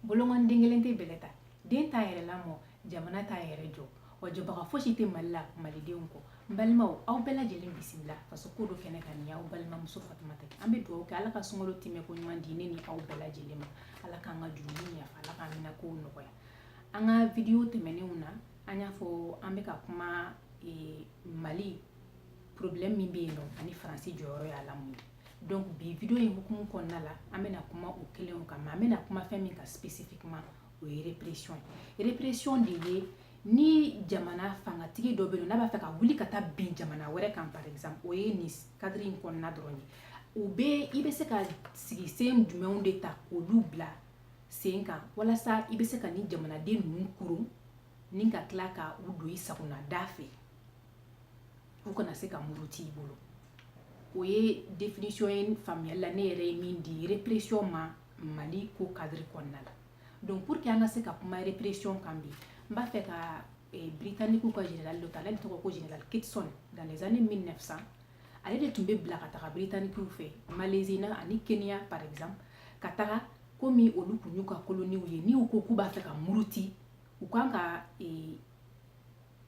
bolokɔni den kelen tɛ bɛlɛ ta den t'a yɛrɛ lamɔ jamana t'a yɛrɛ jɔ wa jɔbaga fosi tɛ mali la malidenw kɔ n balimaw aw bɛɛ lajɛlen bisimila faso ko dɔn kɛnɛ kan ni aw balimamuso fatumata an bɛ dugawu kɛ ala ka sunkalo tɛmɛ ko ɲuman di ne ni aw bɛɛ lajɛlen ma ala k'an ka jurumu yafa ala k'an mina kow nɔgɔya an ka vidiyo tɛmɛnenw na an y'a fɔ an bɛ ka kuma mali problème min bɛ yen nɔ ani faransi jɔyɔrɔ y'a la mun ye donc bi video in hukumu kɔnɔna la an bɛna kuma o kelenw kan mais an bɛna kuma fɛn min kan spécifiquement o ye répression ye répression de ye ni jamana fangatigi dɔ bɛ yen n'a b'a fɛ ka wuli ka taa bin jamana wɛrɛ kan par exemple o ye nin cadre in kɔnɔna dɔrɔn ye u bɛ i bɛ se ka sigi sen jumɛnw de ta k'olu bila sen kan walasa i bɛ se ka ni jamanaden ninnu koron ni ka tila ka u don i sagona da fɛ u kana se ka muruti i bolo o ye définition ye faamuyali la ne yɛrɛ ye min di répression ma Mali ko cadre kɔnɔna la donc pour que an ka se ka kuma répression kan bi n b'a fɛ ka eh, Britannique ka général dɔ ta ale de tɔgɔ ko général Kitson dans les années 1900 ale de tun bɛ bila ka taga Britannique fɛ Malaisie na ani Kenya par exemple ka taga komi olu kun y'u ka koloniw ye ni u ko k'u b'a fɛ ka muruti u kan ka eh,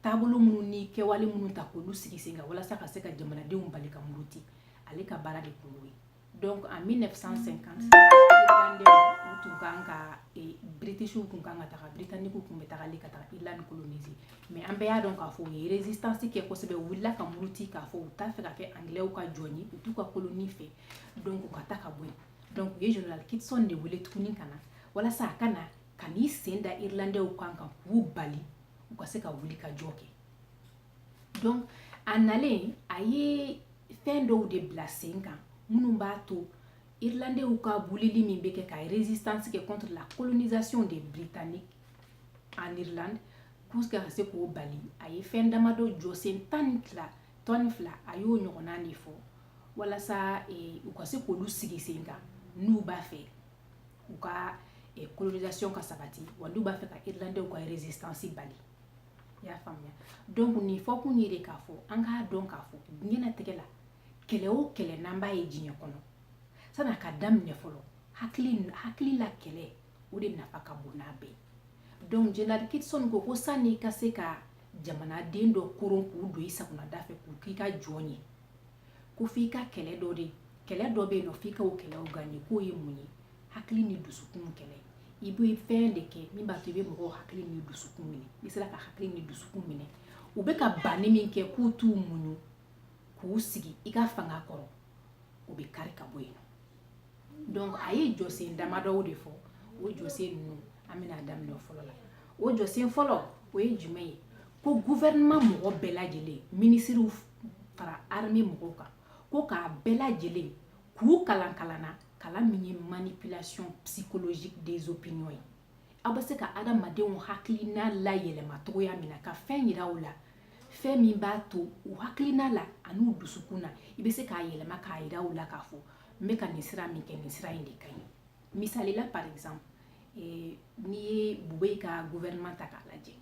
taabolo minnu ni kɛwale minnu ta k'olu sigi sen kan walasa ka se ka jamanadenw bali ka muruti ale ka baara de kun y'o ye donc en 1950 irlandɛw tun kan ka e, britishiw tun kan ka taga britannikiw tun bɛ tagali ka taga irlande coloniser mais an bɛɛ y'a dɔn k'a fɔ u ye résistance kɛ kosɛbɛ u wulila ka muruti k'a fɔ u t'a fɛ ka kɛ anglɛw ka jɔn ye u t'u ka koloni fɛ donc u ka taa ka bɔ yen donc u ye général kitson de wele tuguni ka na walasa a ka na ka n'i sen da irlandɛw kan ka k'u bali u ka se ka wuli ka jɔ kɛ donc a nalen a ye fɛn dɔw de bila sen kan minnu b'a to irlandɛw ka wulili min bɛ kɛ ka résistance kɛ contre la colonisation des britanniques en irlande pour que ka se k'o bali a ye fɛn damadɔ jɔsen tan ni fila tan ni fila a y'o ɲɔgɔnna de fɔ walasa eh, u ka se k'olu sigi sen kan n'u b'a fɛ u ka eh, colonisation ka sabati wa n'u b'a fɛ ka irlandɛw ka résistance bali i y'a faamuya donc nin fɔkun ye de k'a fɔ an k'a dɔn k'a fɔ diɲɛnatigɛ la kɛlɛ o kɛlɛ n'an b'a ye diɲɛ kɔnɔ san'a ka daminɛ fɔlɔ hakili la kɛlɛ o de nafa ka bon n'a bɛɛ ye donc général kitson ko ko san'i ka se ka jamanaden dɔ koron k'u don i sagona da fɛ k'u k'i ka jɔn ye ko f'i ka kɛlɛ dɔ de kɛlɛ dɔ bɛ yen nɔ f'i ka o kɛlɛw gagner k'o ye mun ye hakili ni dusukun kɛlɛ i bɛ fɛn de kɛ min b'a to i bɛ mɔgɔw hakili ni dusukun minɛ n'i sera ka hakili ni dusukun minɛ u bɛ ka banni min kɛ k'u t'u muɲu k'u sigi i ka fanga kɔrɔ o bɛ kari ka bɔ yen donc a ye jɔsen damadɔw de fɔ o jɔsen ninnu an bɛna daminɛ fɔlɔ la o jɔsen fɔlɔ o ye jumɛn ye ko gouvernement mɔgɔ bɛɛ lajɛlen minisiriw fara armée mɔgɔw kan ko k'a bɛɛ lajɛlen k'u kalan kalan na kalan min ye manipulation psychologique des opinions ye aw bɛ se ka adamadenw hakilina layɛlɛma cogoya min na ka fɛn yira u la fɛn min b'a to u hakilina la an'u dusukun na i bɛ se k'a yɛlɛma k'a yira u la k'a fɔ n bɛ ka nin sira min kɛ nin sira in de ka ɲi misali la par exemple eh, n'i ye bubeyi ka gouvernement ta k'a lajɛ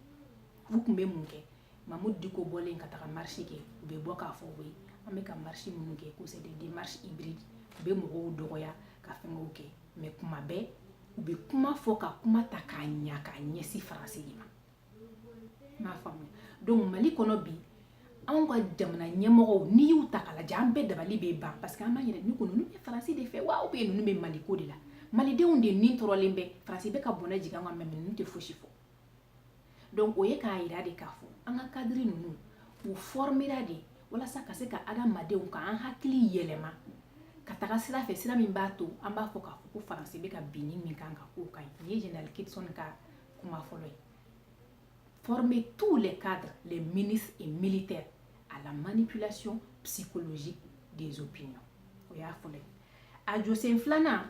u tun bɛ mun kɛ mamudu diko bɔlen ka taga marche kɛ u bɛ bɔ k'a fɔ oui an bɛ ka marche minnu kɛ ko c'est des démarches hybrides u bɛ mɔgɔw dɔgɔya ka fɛngɛw kɛ mais kuma bɛɛ u bɛ kuma fɔ ka kuma ta k'a ɲa k'a ɲɛsin faransi de ma n b'a faamuya donc mali kɔnɔ bi anw ka jamana ɲɛmɔgɔw n'i y'u ta k'a lajɛ an bɛɛ dabali bɛ ban parce que an b'an yɛrɛ ɲininka ko ninnu bɛ faransi de fɛ wa ou bien ninnu bɛ mali ko de la malidenw de ni tɔɔrɔlen bɛ faransi bɛ ka bɔnɛ jigin an kan mais ninnu tɛ fosi fɔ donc o ye k'a yira de k'a fɔ an ka cadre ninnu u fɔrmera de walasa ka se ka adamadenw ka an hakili yɛlɛma ka taga sira fɛ sira min b'a to an b'a fɔ k'a fɔ ko faransi bɛ ka binni min k'an kan k'o ka ɲi nin ye général kitson ka kuma fɔlɔ ye former tous les cadres les ministres et militaires à la manipulation psychologique des opinions o y'a fɔlɔ ye a jɔsen filanan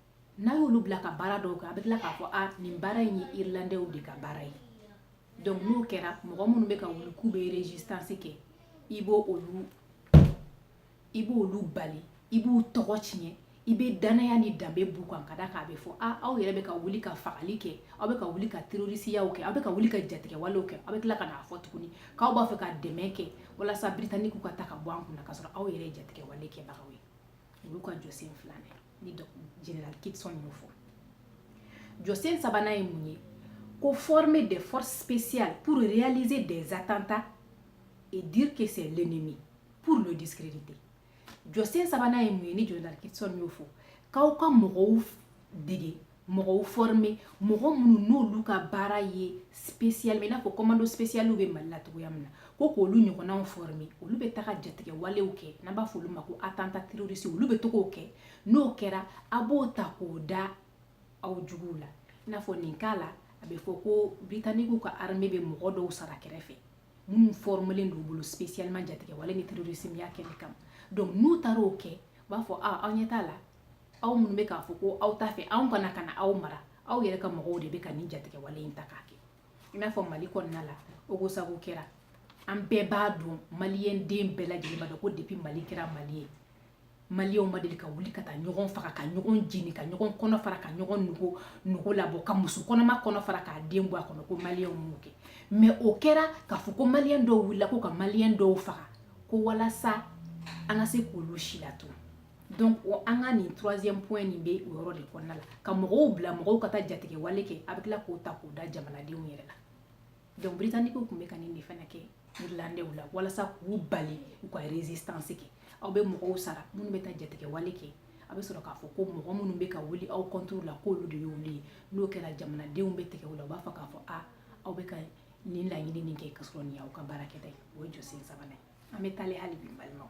n'a y'olu bila ka baara dɔw kɛ a bɛ tila k'a fɔ a nin baara in ye irlandɛw de ka baara ye donc n'o kɛra mɔgɔ minnu bɛ ka wuli k'u bɛ résistance kɛ i b'o olu i b'olu bali i b'u tɔgɔ tiɲɛ i bɛ danaya ni danbe b'u kan ka d'a kan a bɛ fɔ a aw yɛrɛ bɛ ka wuli ka fagali kɛ aw bɛ ka wuli ka terorisiyaw kɛ aw bɛ ka wuli ka jatigɛwalew kɛ aw bɛ tila ka n'a fɔ tuguni k'aw b'a fɛ ka dɛmɛ kɛ walasa britanikiw ka ta ka bɔ an kunna k'a sɔrɔ aw yɛrɛ ye jatigɛwale kɛbagaw ye olu ka jɔsen filanan ye ni général kitson y'o fɔ jɔsen sabanan ye mun ye ko former des forces spéciales pour réaliser des attentats et dire que c'est l'ennemi pour le discréditer jɔsen sabanan ye mun ye ni général kitson y'o fɔ k'aw ka mɔgɔw dege mɔgɔw former mɔgɔ minnu n'olu ka baara ye spécial i n'a fɔ commando spécial bɛ mali la cogoya min na ko k'olu ɲɔgɔnnaw former olu bɛ taga jatigɛwalew kɛ n'an b'a fɔ olu ma ko attentat terroriste olu bɛ to k'o kɛ n'o kɛra a b'o ta k'o da aw juguw la i n'a fɔ nin cas la a bɛ fɔ ko britannique ka armée bɛ mɔgɔ dɔw sara kɛrɛfɛ minnu formelen d'u bolo spécialement jatigɛwale ni terrorismeya kɛli kama donc n'u taara o kɛ u b'a fɔ a aw ɲɛ t'a la aw minnu bɛ k'a fɔ ko aw t'a fɛ anw ka na ka na aw mara aw yɛrɛ ka mɔgɔw de bɛ ka nin jatigɛwale in ta k'a kɛ i n'a fɔ mali kɔnɔna la ogosago kɛra an bɛɛ b'a dɔn maliyɛn den bɛɛ lajɛlen b'a dɔn ko depuis mali kɛra mali ye maliyɛnw ma deli ka wuli ka taa ɲɔgɔn faga ka ɲɔgɔn jeni ka ɲɔgɔn kɔnɔ fara ka ɲɔgɔn nugu nugu labɔ ka muso kɔnɔma kɔnɔ fara k'a den bɔ a kɔnɔ ko maliyɛnw m'o kɛ mais o kɛra k'a fɔ ko maliyɛn dɔw wulila ko ka maliyɛn dɔw faga ko walasa an ka se k'olu silatunu donc o an ka nin troisième point nin bɛ o yɔrɔ de kɔnɔna la ka mɔgɔw bila mɔgɔw ka taa jatigɛwale kɛ a bɛ tila k'o ta k'o da jamanadenw yɛrɛ la donc britanniquew tun bɛ ka nin de fana kɛ irlandaisw la walasa k'u bali u ka résistance kɛ aw bɛ mɔgɔw sara minnu bɛ taa jatigɛwale kɛ a bɛ sɔrɔ k'a fɔ ko mɔgɔ minnu bɛ ka wuli aw contre la k'olu de y'olu ye n'o kɛra jamanadenw bɛ tigɛ u la u b'a fɔ k'a fɔ a aw bɛ ka nin laɲini nin kɛ ka sɔrɔ nin y'aw ka baarakɛta ye o ye jɔsen sabanan ye an bɛ taale hali bi balimaw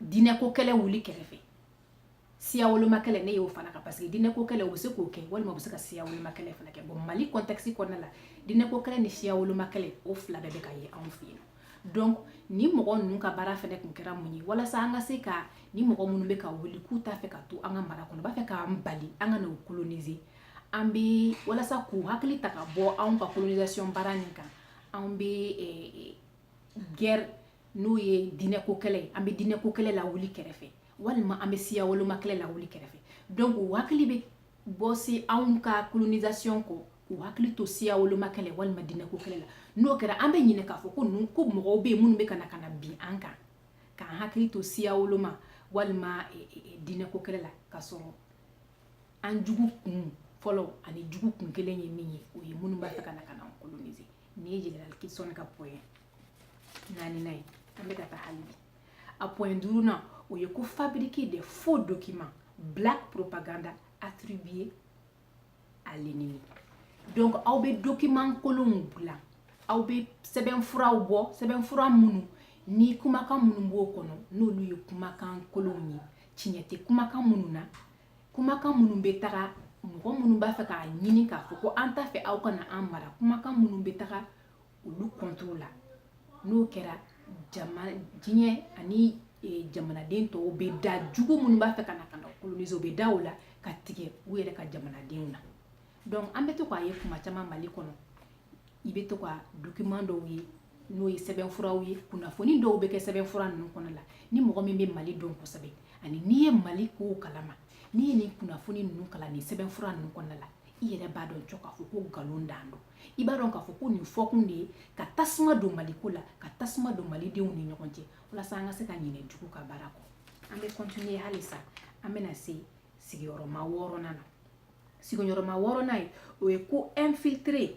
diinɛko kɛlɛ wuli kɛrɛfɛ siya woloma kɛlɛ ne y'o fara a kan parce que diinɛko kɛlɛ u bɛ se k'o kɛ walima u bɛ se ka siya woloma kɛlɛ fana kɛ bon mali contexte kɔnɔna la diinɛko kɛlɛ ni siya woloma kɛlɛ o fila bɛɛ bɛ ka ye anw fɛ yen donc ni mɔgɔ ninnu ka baara fana tun kɛra mun ye walasa an ka se ka ni mɔgɔ minnu bɛ ka wuli k'u t'a fɛ ka to an ka mara kɔnɔ u b'a fɛ k'an bali an ka n'u coloniser an bɛ walasa k'u hakili ta ka bɔ anw ka colonisation baara nin kan anw bɛ eh, eh, guerre n'o ye diinɛko kɛlɛ ye an bɛ diinɛko kɛlɛ lawuli kɛrɛfɛ walima an bɛ siya woloma kɛlɛ lawuli kɛrɛfɛ donc u hakili bɛ bɔ se anw ka colonisation kɔ k'u hakili to siya woloma kɛlɛ walima diinɛko kɛlɛ la n'o kɛra an bɛ ɲinɛ k'a fɔ ko ninnu ko mɔgɔw bɛ yen minnu bɛ ka na ka na bin an kan k'an hakili to siya woloma walima e, e, e, diinɛko kɛlɛ la ka sɔrɔ an jugu kun fɔlɔ ani jugu kun kelen ye min ye o ye minnu b'a fɛ ka na ka na an coloniser nin ye général kitson ka point naaninan ye an bɛ ka taa hali bi a point duurunan o ye ko fabriquer des faux documents black propaganda attribués à l'ennemi donc aw bɛ document kolonw bila aw bɛ sɛbɛnfuraw bɔ sɛbɛnfura minnu ni kumakan minnu b'o kɔnɔ n'olu ye kumakan kolonw ye tiɲɛ tɛ kumakan minnu na kumakan minnu bɛ taga mɔgɔ minnu b'a fɛ k'a ɲini k'a fɔ ko an t'a fɛ aw ka na an mara kumakan minnu bɛ taga olu contre la n'o kɛra diɲɛ ani e, jamanaden tɔw bɛ da jugu minnu b'a fɛ ka na ka na coloniser u bɛ da o la ka tigɛ u yɛrɛ ka jamanadenw na donc an bɛ to k'a ye kuma caman mali kɔnɔ i bɛ to ka document dɔw ye n'o ye sɛbɛnfuraw ye kunnafoni dɔw bɛ kɛ sɛbɛnfura ninnu kɔnɔ la ni mɔgɔ min bɛ mali dɔn kosɛbɛ ani n'i ye mali kow kalama n'i ye nin kunnafoni ninnu kalan nin sɛbɛnfura ninnu kɔnɔna la i yɛrɛ b'a dɔn cɔ k'a fɔ ko nkalon dan don i b'a dɔn k'a fɔ ko nin fɔkun de ye ka tasuma don maliko la ka tasuma don malidenw ni ɲɔgɔn cɛ walasa an ka se ka ɲinɛ jugu ka baara kɔ an bɛ continuer halisa an bɛna se sigiyɔrɔma wɔɔrɔnan na sigiyɔrɔma wɔɔrɔnan ye o ye ko infiltrer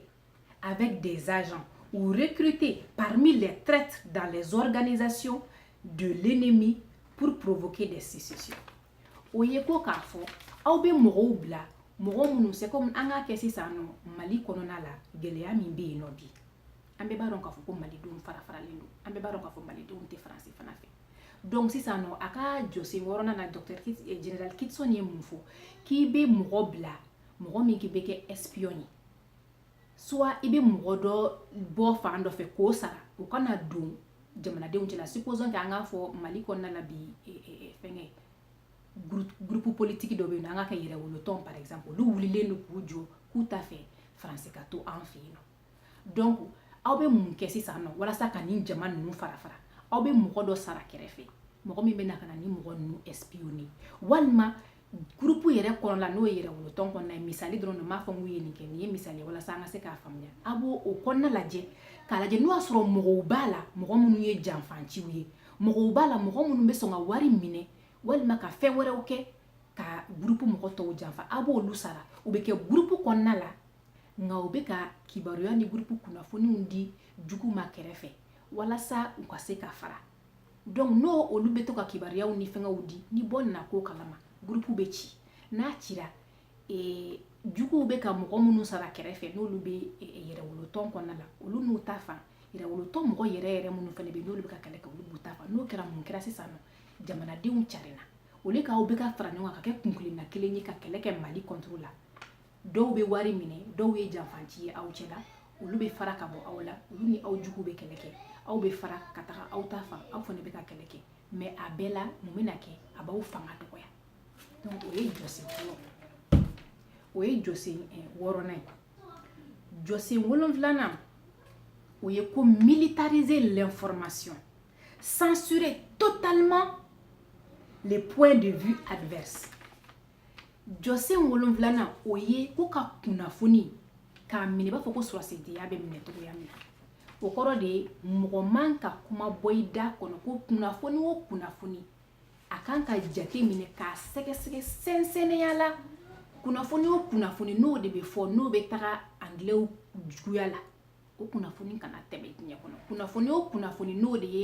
avec des agents ou recruter parmi les traîtres dans les organisations de l'ennemi pour provoquer des sécessions o ye ko k'a fɔ aw bɛ mɔgɔw bila mɔgɔ minnu c'est comme an k'a kɛ sisan nɔ mali kɔnɔna la gɛlɛya min bɛ yen nɔ bi an bɛɛ b'a dɔn k'a fɔ ko malidenw fara faralen don an bɛɛ b'a dɔn k'a fɔ malidenw tɛ faransi fana fɛ donc sisan nɔ a ka jɔsen wɔɔrɔnan na docteur eh, general kitson ye mun fɔ k'i bɛ mɔgɔ bila mɔgɔ min k'i bɛ kɛ espion ye soit i bɛ mɔgɔ dɔ bɔ fan dɔ fɛ k'o sara o ka na don jamanadenw cɛla supposons que an k'a fɔ mali kɔnɔna la bi fɛngɛ groupe politique dɔ bɛ yen nɔ an k'a kɛ yɛrɛwolotɔn par exemple olu wulilen don k'u jɔ k'u t'a fɛ faransi ka to an fɛ yen nɔ donc aw bɛ mun kɛ sisan nɔ walasa ka nin jama ninnu fara fara aw bɛ mɔgɔ dɔ sara kɛrɛfɛ mɔgɔ min bɛ na ka na nin mɔgɔ ninnu espionner walima gurupu yɛrɛ kɔnɔ la n'o ye yɛrɛwolotɔn kɔnɔna ye misali dɔrɔn don n m'a fɔ k'u ye nin kɛ nin ye misali ye walasa an ka se k'a faamuya a b'o o kɔnɔna lajɛ k'a lajɛ n'o y'a sɔrɔ mɔgɔw b'a la mɔgɔ minnu ye janfanciw ye mɔgɔw b'a la mɔgɔ minnu bɛ sɔn ka wari minɛ walima ka fɛn wɛrɛw kɛ ka gurupu mɔgɔ tɔw janfa a b'olu sara u bɛ kɛ gurupu kɔnɔna la nka u bɛ ka kibaruya ni gurupu kunnafoniw di jugu ma kɛrɛfɛ walasa u ka se ka fara donc n'o olu bɛ to ka kibaruyaw ni fɛngɛw di ni bɔ nana ko kalama gurupu bɛ ci n'a cira ee, juguw bɛ ka mɔgɔ minnu sara kɛrɛfɛ n'olu bɛ e, e, yɛrɛwolotɔn kɔnɔna la olu n'u ta fan yɛrɛwolotɔn mɔgɔ yɛrɛ yɛrɛ minnu fana bɛ yen n'olu bɛ ka kɛlɛ kɛ olu b'u ta fan n'o kɛra mun kɛra sisan nɔ jamanadenw carinna au lieu k'aw bɛ ka fara ɲɔgɔn kan ka kɛ kunkelenna kelen ye ka kɛlɛ kɛ mali contre la dɔw bɛ wari minɛ dɔw ye janfanci ye aw cɛla olu bɛ fara ka bɔ aw la olu ni aw jugu bɛ kɛlɛ kɛ aw bɛ fara ka taga aw ta fan aw fana bɛ ka kɛlɛ kɛ mais a bɛɛ la mun bɛna kɛ a b'aw fanga dɔgɔya donc o ye jɔsen fɔlɔ o ye jɔsen eh, wɔɔrɔnan ye jɔsen wolonfilanan o ye ko militariser l'information censurer totalement les points de vue adverses jɔsen wolonfilanan o ye ko ka kunnafoni k'a minɛ i b'a fɔ ko sɔrɔsidenya bɛ minɛ cogoya min na o kɔrɔ de ye mɔgɔ man ka kuma bɔ i da kɔnɔ ko kunnafoni o kunnafoni a kan ka jate minɛ k'a sɛgɛsɛgɛ sɛnsɛnnenya la kunnafoni o kunnafoni n'o de bɛ fɔ n'o bɛ taga angilɛw juguya la o kunnafoni kana tɛmɛ diɲɛ kɔnɔ kunnafoni o kunnafoni n'o de ye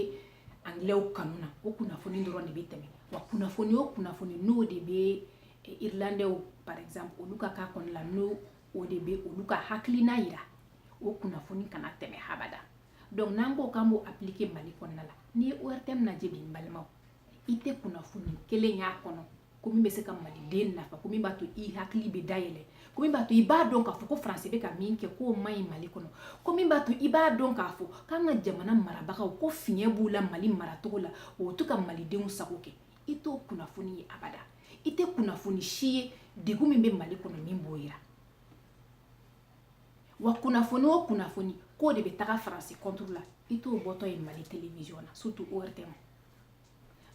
angilɛw kanu na o kunnafoni dɔrɔn de bɛ tɛmɛ wa kunnafoni o kunnafoni n'o de bɛ eh, irlandɛw par exemple olu ka k'a kɔnɔ la n'o o de bɛ olu ka hakilina yira o kunnafoni kana tɛmɛ habada donc n'an ko k'an b'o appliquer mali kɔnɔna la n'i ye ortm lajɛ bi n balimaw i tɛ kunnafoni kelen y'a kɔnɔ ko min bɛ se ka maliden nafa ko min b'a to i hakili bɛ dayɛlɛ ko min b'a to i b'a dɔn k'a fɔ ko faransi bɛ ka min kɛ k'o man ɲi mali kɔnɔ ko min b'a to i b'a dɔn k'a fɔ k'an ka jamana marabagaw ko fiɲɛ b'u la mali maracogo la u tɛ ka malidenw sago kɛ i t'o kunnafoni ye abada i tɛ kunnafoni si ye degun min bɛ mali kɔnɔ min b'o yira wa kunnafoni o kunnafoni k'o de bɛ taga faransi contre la i t'o bɔtɔ ye mali telewisiyɔn na surtout ortm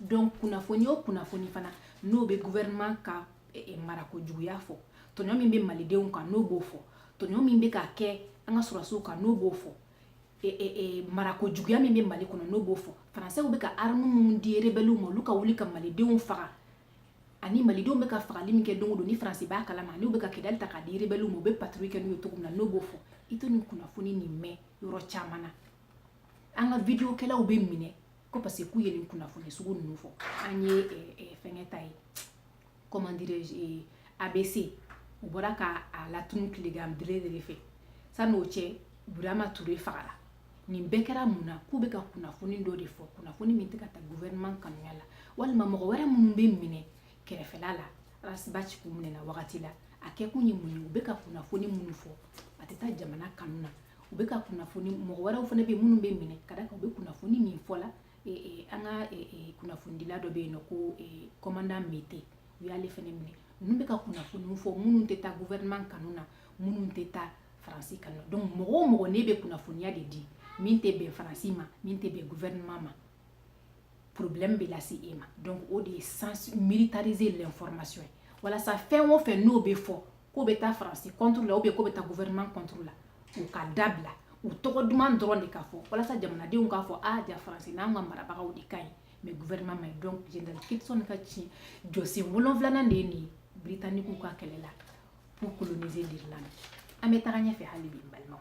donc kunnafoni o kunnafoni fana n'o bɛ gouvernement ka eh, eh, marako juguya fɔ tɔɲɔ min bɛ malidenw kan n'o b'o fɔ tɔɲɔ min bɛ ka kɛ an ka sɔrɔsiw kan n'o b'o fɔ eh, marako juguya min bɛ mali kɔnɔ n'o b'o fɔ faransɛw bɛ ka arme minnu di rebɛliw ma olu ka wuli ka malidenw faga ani malidenw bɛ ka fagali min kɛ don o don ni faransi b'a kalama n'u bɛ ka kidali ta k'a di rebɛliw ma u bɛ patrouille kɛ n'u ye cogo min na n'o b'o fɔ i tɛ nin kunnafoni nin mɛn yɔrɔ caman na an ka videokɛlaw bɛ minɛ ko parce que k'u ye nin kunnafoni sugu ninnu fɔ an ye eh, eh, fɛngɛ ta ye comment dirais-je eh, abc u bɔra ka a latunu tilegan bere de fɛ san'o cɛ birama ture fagara nin bɛɛ kɛra mun na k'u bɛ ka kunnafoni dɔ de fɔ kunnafoni min tɛ ka taa gouvernement kanuya la walima mɔgɔ wɛrɛ minnu bɛ minɛ kɛrɛfɛla la ras bath k'o minɛna wagati la a kɛkun ye mun ye u bɛ ka kunnafoni minnu fɔ a tɛ taa jamana kanu na u bɛ ka kunnafoni mɔgɔ wɛrɛw fana bɛ minnu bɛ minɛ ka da kan u bɛ kunnafoni min fɔ la an ka kunnafonidila dɔ bɛ yen n'o ko kɔmandan mete u y'ale fana minɛ ninnu bɛ ka kunnafoni fɔ minnu tɛ taa gouvernement kanu na minnu tɛ taa faransi kanu na donc mɔgɔ o mɔgɔ n'e bɛ kunnafoniya de di min tɛ bɛn faransi ma min tɛ bɛn gouvernement ma problème bɛ lase e ma donc o de ye sens militariser l'information ye walasa fɛn o fɛn n'o bɛ fɔ k'o bɛ taa faransi contre la ou bien k'o bɛ taa gouvernement contre la o ka dabila u tɔgɔ duman dɔrɔn de ka fɔ walasa jamanadenw k'a fɔ a ja faransi n'an ka marabagaw de ka ɲi mais gouvernement ma ɲi donc general kitson ka tiɲɛ jɔsen wolonfilanan de ye nin ye britannique ka kɛlɛ la pour coloniser l'irlande an bɛ taga ɲɛfɛ hali bi n balimaw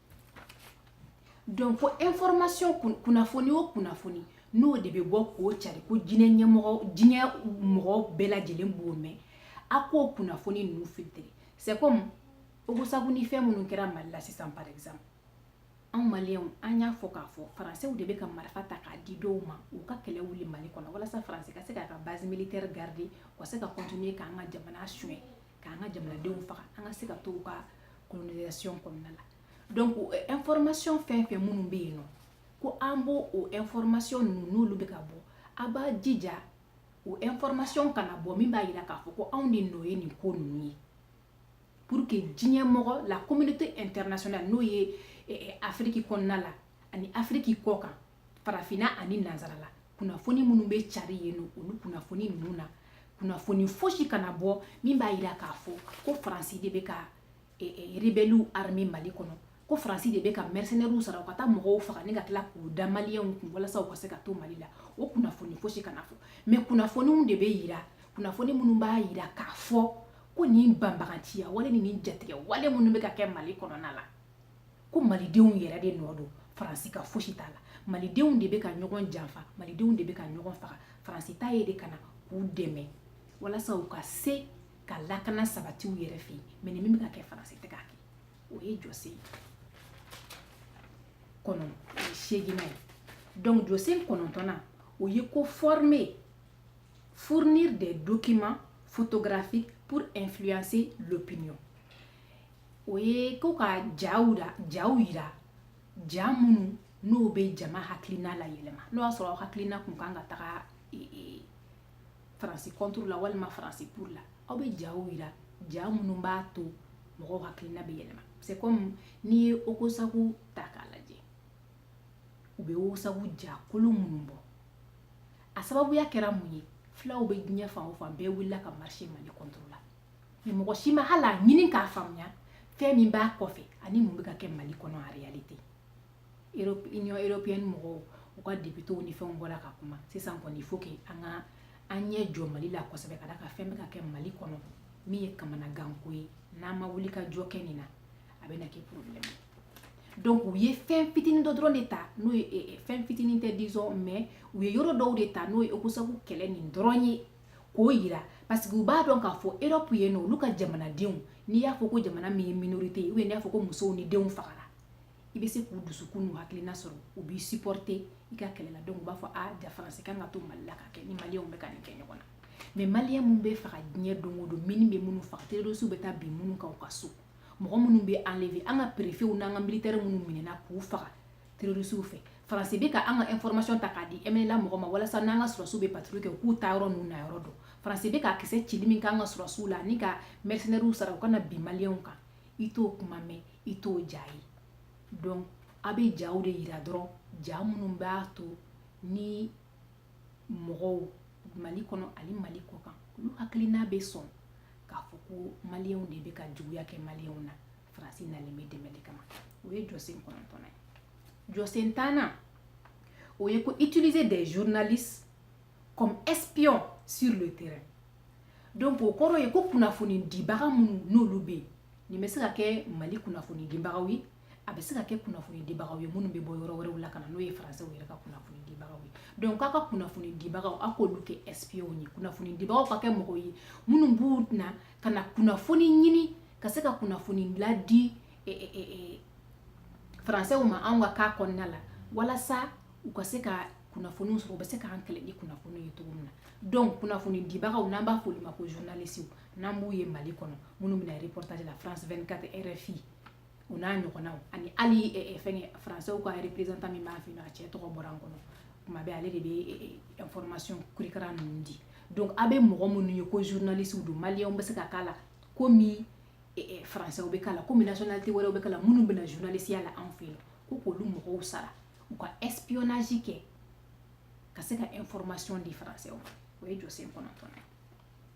donc ko information kunnafoni o kunnafoni n'o de bɛ bɔ k'o cari ko diɲɛ mɔgɔ bɛɛ lajɛlen b'o mɛn a k'o kunnafoni ninnu filtrer c'est comme ogosagu ni fɛn minnu kɛra mali la sisan par exemple anw maliyɛnw an y'a fɔ k'a fɔ faransew de bɛ ka marifa ta k'a di dɔw ma u ka kɛlɛ wuli mali kɔnɔ walasa faranse ka se k'a ka base militaire garder u ka se ka continuer k'an ka jamana suɲɛ k'an ka jamanadenw faga an ka se ka to u ka colonisation kɔnɔna la donc information fɛn fɛn minnu bɛ yen nɔ ko an b'o o information ninnu n'olu bɛ ka bɔ a b'a jija o information kana bɔ min b'a jira k'a fɔ ko anw de nɔ ye nin ko ninnu ye pour que diɲɛ mɔgɔ la communauté internationale n'o ye afiriki kɔnɔna la ani afiriki kɔkan farafinna ani nansarala kunnafoni minnu bɛ cari yen nɔ olu kunnafoni ninnu na kunnafoni fosi kana bɔ min b'a yira k'a fɔ ko faransi de bɛ ka e, e, rebɛliw armer mali kɔnɔ ko faransi de bɛ ka mɛrisenɛriw sara u ka taa mɔgɔw faga ni ka tila k'u da maliyɛnw kun walasa u ka se ka to mali la o kunnafoni fosi kana fɔ mais kunnafoniw de bɛ yira kunnafoni minnu b'a yira k'a fɔ ko nin banbaganciya wale ni nin jatigɛwale minnu bɛ ka kɛ mali kɔnɔna la ko malidenw yɛrɛ de nɔ don faransi ka fosi t'a la malidenw de bɛ ka ɲɔgɔn janfa malidenw de bɛ ka ɲɔgɔn faga faransi ta ye de ka na k'u dɛmɛ walasa u ka se ka lakana sabati u yɛrɛ fɛ yen mais nin min bɛ ka kɛ faransi tɛ k'a kɛ o ye jɔsen kɔnɔ seeginnan ye donc jɔsen kɔnɔntɔnnan o ye ko former fournir des documents photographiques pour influencer l'opinion o ye ko ka jaw yira ja minnu n'o bɛ jama hakilina layɛlɛma n'o y'a sɔrɔ aw hakilina kun kan ka taga e, e, faransi contre la walima faransi pour la aw bɛ jaw yira ja minnu b'a to mɔgɔw hakilina bɛ yɛlɛma c'est comme n'i ye ogosagu ta k'a lajɛ u bɛ ogosagu ja kolon minnu bɔ a sababuya kɛra mun ye fulaw bɛ diɲɛ fan o fan bɛɛ wulila ka marcher mali contre la mɔgɔ si ma hali a ɲini k'a faamuya fɛn min b'a kɔfɛ ani mun bɛ ka kɛ mali kɔnɔ en réalité union européenne mɔgɔw u ka depitew ni fɛnw bɔra ka kuma sisan kɔni il faut que an ka an ɲɛ jɔ mali la kosɛbɛ ka d'a kan fɛn bɛ ka kɛ mali kɔnɔ min ye kamanaganko ye n'an ma wulikajɔ kɛ nin na a bɛna kɛ problème ye donc u ye fɛn fitinin dɔ dɔrɔn de ta n'o ye fɛn fitinin tɛ disons mais u ye yɔrɔ dɔw de ta n'o ye ogosagu kɛlɛ nin dɔrɔn ye k'o yira parce que u b'a dɔn k'a fɔ Europe yen nɔ olu ka jamanadenw n'i y'a fɔ ko jamana min ye minorité ye ou bien n'i y'a fɔ ko musow ni denw fagara i bɛ se k'u dusukun n'u hakilina sɔrɔ u b'i supporter i ka kɛlɛ la donc u b'a fɔ a ja faransi kan ka to mali la ka kɛ ni maliyɛnw bɛ ka nin kɛ ɲɔgɔn na mais maliyɛn minnu bɛ faga diɲɛ don o don mini bɛ minnu faga terrorisiw bɛ taa bin minnu kan u ka so mɔgɔ minnu bɛ enlever an ka perefew n'an ka militaire minnu minɛna k'u faga terroriste fɛ faransi bɛ ka an ka information ta k'a di MNLA mɔgɔ ma walasa n'an ka sɔrɔsiw bɛ patrouille kɛ u k'u taa yɔrɔ n'u na yɔrɔ dɔn faransi bɛ ka kisɛ cili min k'an ka sɔrɔsiw la ani ka mercenaires sara u ka na bin maliyɛnw kan i t'o kuma mɛn i t'o ja ye donc a bɛ jaw de yira dɔrɔn ja minnu b'a to ni mɔgɔw mali kɔnɔ ani mali kɔ kan olu hakilina bɛ sɔn k'a fɔ ko maliyɛnw de bɛ ka juguya kɛ maliyɛnw na faransi nalen bɛ dɛmɛ de kama o ye jɔsen kɔnɔntɔnnan ye jɔsen tannan o ye ko utiliser des journalistes comme espions sur le terrain donc o kɔrɔ ye ko kunnafoni dibaga minnu n'olu bɛ yen nin bɛ se ka kɛ mali kunnafoni dibagaw ye a bɛ se ka kɛ kunnafoni dibagaw ye minnu bɛ bɔ yɔrɔ wɛrɛw la ka na n'o ye faransɛw yɛrɛ ka kunnafoni dibagaw ye donc k'a ka kunnafoni dibagaw aw k'olu kɛ espions ye kunnafoni dibagaw ka kɛ mɔgɔw ye minnu bɛ na ka na kunnafoni ɲini ka se ka kunnafoni ladi e, e, e, e faransɛw ma anw ka cas kɔnɔna la walasa u ka se ka kunnafoniw sɔrɔ u bɛ se k'an kɛlɛ ni kunnafoni ye cogo min na donc kunnafoni dibagaw n'an b'a f'olu ma ko journaliste n'an b'u ye mali kɔnɔ minnu bɛ na reportage la france 24 rfi o n'a ɲɔgɔnnaw ani hali fɛngɛ faransɛw ka representant min b'an fɛ yen a cɛ tɔgɔ bɔra n kɔnɔ tuma bɛɛ ale de bɛ information kurikara ninnu di donc a bɛ mɔgɔ minnu ye ko journaliste don maliyɛnw bɛ se ka k'a la komi faransɛw bɛ k'a la komi nationalité wɛrɛw bɛ k'a la minnu bɛ na journalisiya la anw fɛ yen ko k'olu mɔgɔw sara u ka espionnage kɛ ka se ka information di faransɛw ma o ye jɔsen kɔnɔntɔnnan ye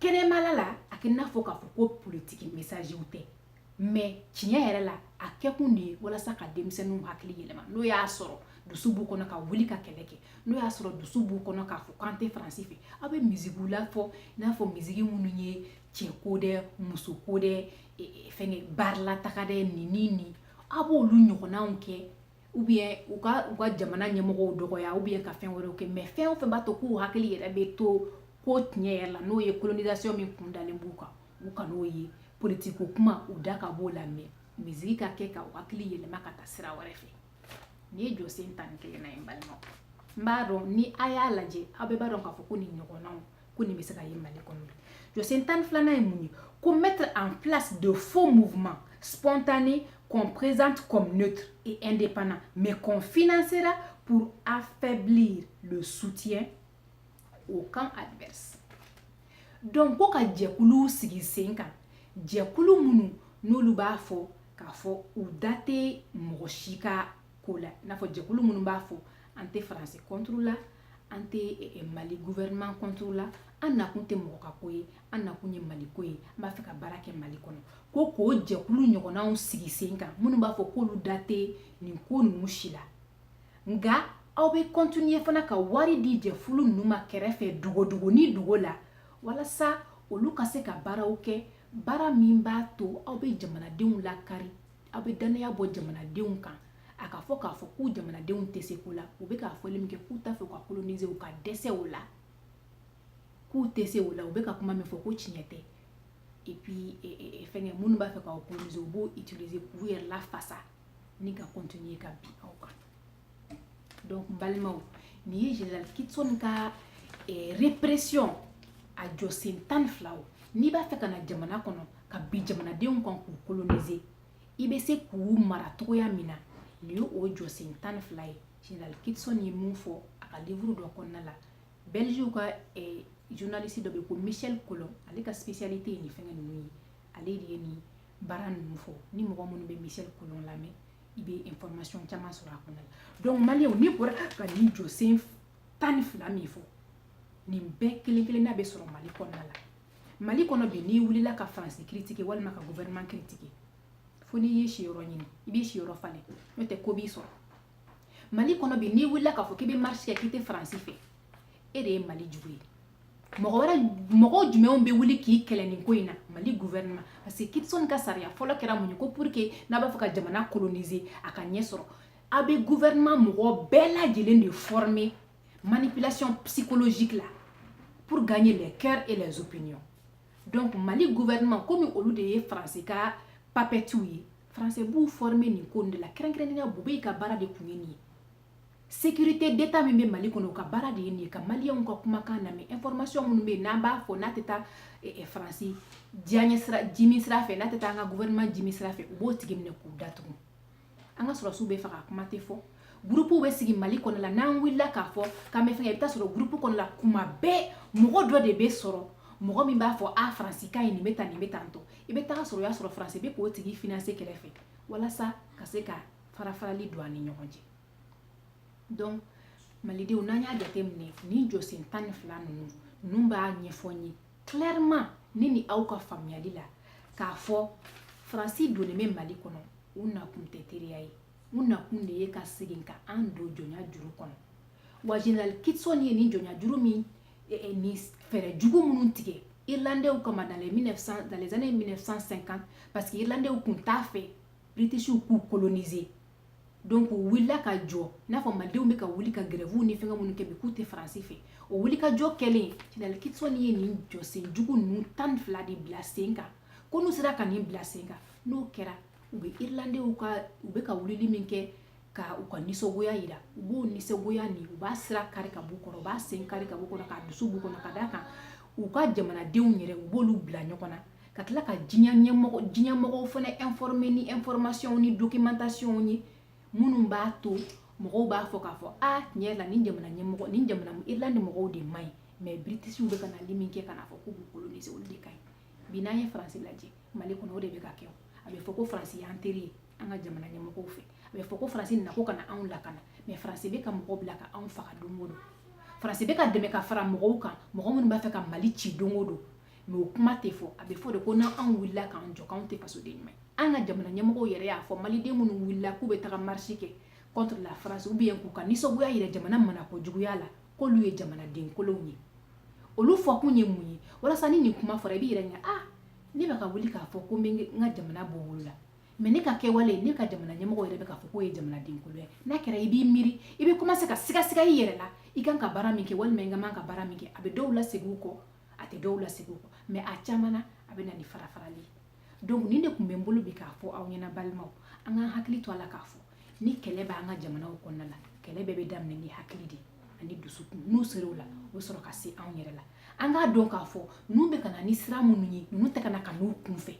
kɛnɛmala la a kɛ n'a fɔ k'a fɔ ko politiki mesaziw tɛ mais tiɲɛ yɛrɛ la a kɛkun de ye walasa ka denmisɛnninw hakili yɛlɛma n'o y'a sɔrɔ dusu b'u kɔnɔ ka wuli ka kɛlɛ kɛ n'o y'a sɔrɔ dusu b'u kɔnɔ k'a fɔ k'an tɛ faransi fɛ aw bɛ mizikiw lafɔ i n'a fɔ miziki minnu ye cɛ ko dɛ muso ko dɛ e, e, fɛngɛ bari la taga dɛ nin ni nin aw b'olu ɲɔgɔnnaw kɛ ou bien u ka u ka jamana ɲɛmɔgɔw dɔgɔya ou bien ka fɛn wɛrɛw kɛ mais fɛn o fɛn b'a to k'u hakili yɛrɛ bɛ to ko tiɲɛ yɛrɛ la n'o ye kolonisasiɔn min kun dalen b'u kan u kan'o ye politiki ko kuma u da ka b'o la mais miziki ka kɛ ka u hakili yɛlɛma ka taa sira wɛrɛ fɛ nin ye jɔsen tan ni kelennan ye n balimaw n b'a dɔn ni a y'a lajɛ aw bɛɛ b'a dɔn k'a fɔ ko nin ɲɔgɔnnaw ko nin bɛ se ka ye mali kɔnɔ jɔsen tan ni filanan ye mun ye ko mettre en place de faux mouvements spontanés qu'on présente comme neutre et indépendant mais qu'on financera pour affaiblir le soutien au camp adverse donc ko ka jɛkuluw sigi sen kan jɛkulu minnu n'olu b'a fɔ k'a fɔ u da tɛ mɔgɔ si ka ko la i n'a fɔ jɛkulu minnu b'a fɔ an tɛ faransi kɔnturu la an tɛ eh, eh, mali guvɛrɛnman kɔnturu la an nakun tɛ mɔgɔ ka ko ye an nakun ye mali ko ye an b'a fɛ ka baara kɛ mali kɔnɔ ko k'o jɛkulu ɲɔgɔnnaw sigi sen kan minnu b'a fɔ k'olu da tɛ nin ko ninnu si la nka aw bɛ kɔntiniye fana ka wari di jɛkulu ninnu ma kɛrɛfɛ dogodogo ni dogo la walasa olu ka se ka baaraw kɛ baara min b'a to aw bɛ jamanadenw lakari aw bɛ dannaya bɔ jamanadenw kan a ka fɔ k'a fɔ k'u jamanadenw tɛ se ko la u bɛ k'a fɔli min kɛ k'u t'a fɛ ka kolonize u ka dɛsɛ o la k'u tɛ se o la u bɛ ka kuma min fɔ ko tiɲɛ tɛ et puis e, e, e, fɛnkɛ minnu b'a fɛ k'aw kolonize u b'o utiliser k'u yɛrɛ lafasa ni ka continuer ka bin aw kan donc balimaw nin ye général kitson ka eh, répression a jɔsen tan ni fila o n'i b'a fɛ ka na jamana kɔnɔ ka bin jamanadenw kan k'u kolonize i bɛ se k'u mara cogoya min na nin ye o jɔsen tan ni fila ye général kitson ye min fɔ a ka livre dɔ kɔnɔna la belgique ka eh, journaliste dɔ bɛ ko michel collon ale ka spécialité ye nin fɛngɛ ninnu ye ale de ye nin baara ninnu fɔ ni mɔgɔ minnu bɛ michel collon lamɛn i bɛ information caman sɔrɔ a kɔnɔna la donc maliyɛnw ne bɔra ka nin jɔsen tan ni fila min fɔ nin bɛɛ kelen kelenna bɛ sɔrɔ mali kɔnɔna la mali kɔnɔ bi n'i wulila ka faransi kiritike walima ka gouvernement kiritike fo n'i y'i siyɔrɔ ɲini i b'i siyɔrɔ falen n'o tɛ ko b'i sɔrɔ mali kɔnɔ bi n'i wulila k'a fɔ k'i bɛ marche kɛ k'i tɛ faransi fɛ e de ye mali jugu ye mɔgɔ jumɛnw bɛ wuli k'i kɛlɛ nin ko in na mali gouvernement parce que kitson ka sariya fɔlɔ kɛra mun ye ko pour que n'a b'a fɛ ka jamana coloniser a ka ɲɛ sɔrɔ a bɛ gouvernement mɔgɔ bɛɛ lajɛlen de former manipulation psychologique la pour gagner les cœurs et les opinions donc mali gouvernement komi olu de ye faransi ka papɛtiw ye faransi b'u former nin ko nin de la kɛrɛnkɛrɛnnenya boubèye ka baara de tun ye nin ye sécurité d'état min bɛ mali kɔnɔ o ka baara de ye nin ye ka maliyɛnw ka kumakan lamɛn information minnu bɛ yen n'an b'a fɔ n'a tɛ taa eh, eh, faransi diyaɲɛ sira jimi sira fɛ n'a tɛ taa an ka gouvernement jimi sira fɛ u b'o tigi minɛ k'u datugu an ka sɔrɔsiw bɛ faga kuma tɛ fɔ gurupuw bɛ sigi mali kɔnɔ la n'an wulila k'a fɔ k'an bɛ fɛngɛ i bɛ taa sɔrɔ gurupu kɔnɔ la tuma bɛɛ mɔgɔ dɔ de bɛ sɔrɔ mɔgɔ min b'a fɔ a faransi ka ye nin bɛ tan nin bɛ tan tɔ i bɛ taga sɔrɔ o y'a sɔrɔ faransi bɛ k'o tigi finanse kɛrɛfɛ walasa ka se ka farafarali don an ni ɲɔgɔn cɛ donc malidenw n'an y'a jateminɛ nin jɔsen tan ni fila ninnu ninnu b'a ɲɛfɔ n ye clairement ne ni aw ka faamuyali la k'a fɔ faransi donnen bɛ mali kɔnɔ u nakun tɛ teriya ye u nakun de ye ka segin ka an don jɔnya juru kɔnɔ wa general kitson ye nin jɔnya juru min eh, eh, ni fɛɛrɛ jugu minnu tigɛ irlandɛw kama dans les 1900 dans les années 1950 parce que irlandɛw tun t'a fɛ britishiw k'u coloniser donc u wulila ka jɔ n'a fɔ malidenw bɛ ka wuli ka grève ni fɛngɛ minnu kɛ bi k'u tɛ faransi fɛ o wulikajɔ kɛlen general kitson ye nin jɔsen jugu ninnu tan ni fila de bila sen kan ko n'u sera ka nin bila sen kan n'o kɛra u bɛ irilandenw ka u bɛ ka wulili min kɛ ka u ka nisɔngoya yira u b'o nisɔngoya nin u b'a sira kari ka b'u kɔrɔ u b'a sen kari ka b'u kɔrɔ k'a dusu b'u kɔnɔ ka d'a kan u ka jamanadenw yɛrɛ u b'olu bila ɲɔgɔn na ka tila ka diɲɛ ɲɛmɔgɔ diɲɛ mɔgɔw fana informer ni information ni documentation ye minnu b'a to mɔgɔw b'a fɔ k'a fɔ a tiɲɛ la nin jamana ɲɛmɔgɔ nin jamana irlande mɔgɔw de man ɲi mais britishiw bɛ ka nali min kɛ ka n'a fɔ k'u b'u coloniser olu de ka ɲi bi n'an ye faransi lajɛ mali kɔnɔ o de bɛ ka kɛ a bɛ fɔ ko faransi y'an teri ye an ka jamana ɲɛmɔgɔw fɛ a bɛ fɔ ko faransi nana ko ka na anw lakana mais faransi bɛ ka mɔgɔ bila ka anw faga don o don faransi bɛ ka dɛmɛ ka fara mɔgɔw kan mɔgɔ minnu b'a fɛ ka mali ci don o don mais o kuma tɛ fɔ a bɛ fɔ de ko n'anw wulila k'an jɔ k'anw tɛ fasoden ɲuman ye an ka jamana ɲɛmɔgɔ yɛrɛ y'a fɔ maliden minnu wulila k'u bɛ taga marche kɛ contre la france ou bien k'u ka nisɔngoya yira jamana marako juguya la k'olu ye jamanaden kolonw ye olu fɔ kun ye mun ye walasa ni nin kuma fɔra i b'i yɛrɛ ɲɛ ah ne bɛ ka wuli k'a fɔ ko n bɛ n ka jamana bɔ bolo la mais ne ka kɛwale ne ka jamana ɲɛmɔgɔ yɛrɛ bɛ k'a fɔ k'o ye jamanaden kolon ye n'a kɛra i b'i miiri i bɛ commencer ka sigasiga i yɛrɛ la i kan ka baara min kɛ walima i ka man ka baara min kɛ a bɛ dɔw lasegin kɔ a tɛ dɔw lasegin kɔ mais a caman na a bɛ na ni farafarali ye donc nin de tun bɛ n bolo bi k'a fɔ aw ɲɛna balimaw an k'an hakili to a la k'a fɔ ni kɛlɛ b'an ka jamanaw kɔnɔna la kɛlɛ bɛɛ bɛ daminɛ ni hakili de ani dusukun n'u sera o la o bɛ sɔrɔ ka se anw yɛrɛ la an k'a dɔn k'a fɔ ninnu bɛ ka na ni sira minnu ye ninnu tɛ ka na ka n'u kunfɛ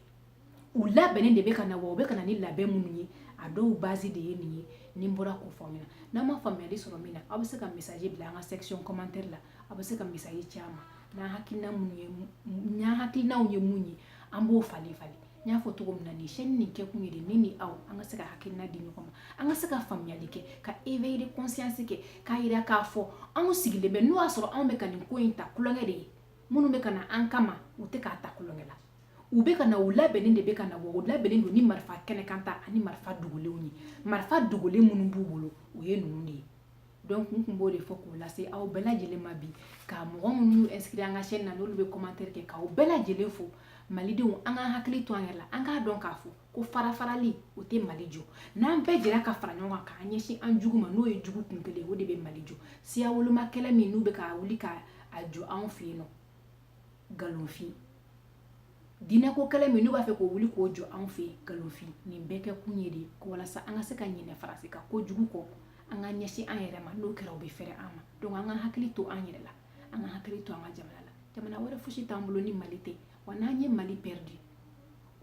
u labɛnnen de bɛ ka na wa u bɛ ka na ni labɛn minnu ye a dɔw base de ye nin ye ni n bɔra k'o fɔ aw ɲɛna n'aw ma faamuyali sɔrɔ min na aw bɛ se ka message bila an ka section commentaire la aw bɛ se ka message ci an ma n'an hakilina minnu ye n'an hakilinaw ye mun ye an b'o falen falen n y'a fɔ cogo min na nin chaîne nin kɛkun ye de ne ni aw an ka se ka hakilina di ɲɔgɔn ma an ka se ka faamuyali kɛ ka éveil de conscience kɛ k'a yira k'a fɔ anw sigilen bɛ n'o y'a sɔrɔ anw bɛ ka nin ko in ta tulonkɛ de ye minnu bɛ ka na an kama u tɛ k'a ta tulonkɛ la u bɛ ka na u labɛnnen de bɛ ka na wa u labɛnnen don ni marifa kɛnɛkanta ani marifa dogolenw ye marifa dogolen minnu b'u bolo o ye ninnu de ye donc n tun b'o de fɔ k'o lase aw bɛɛ lajɛlen ma bi ka mɔgɔ minnu y'u inscrit an ka chaîne na n'olu bɛ commentaire kɛ k'aw bɛɛ lajɛlen fo malidenw an k'an hakili to an yɛrɛ la an k'a dɔn k'a fɔ ko farafarali o tɛ mali jɔ n'an bɛɛ jɛra ka fara ɲɔgɔn kan k'an ɲɛsin an jugu ma n'o ye jugu kun kelen o de bɛ mali jɔ siya woloma kɛlɛ min n'u bɛ ka wuli ka a jɔ anw fɛ yen nɔ nkalonfin diinɛko kɛlɛ min n'u b'a fɛ k'o wuli k'o jɔ anw fɛ yen nkalonfin nin bɛɛ kɛ kun ye de ko walasa an ka se ka ɲinɛ faransi ka kojugu kɔ an ka ɲɛsin an yɛrɛ ma n'o kɛra u bɛ fɛrɛ an ma donc an ka hakili to an yɛrɛ la an ka hakili to an ka jamana la jamana wɛrɛ fosi t'an bolo ni mali tɛ wa n'an ye mali perdu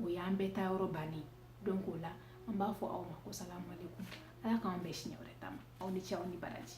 o y'an bɛɛ taa yɔrɔ bannen donc o la an b'a fɔ aw ma ko salamu aleykum ala k'an bɛn siɲɛ wɛrɛ ta ma aw ni ce aw ni baraji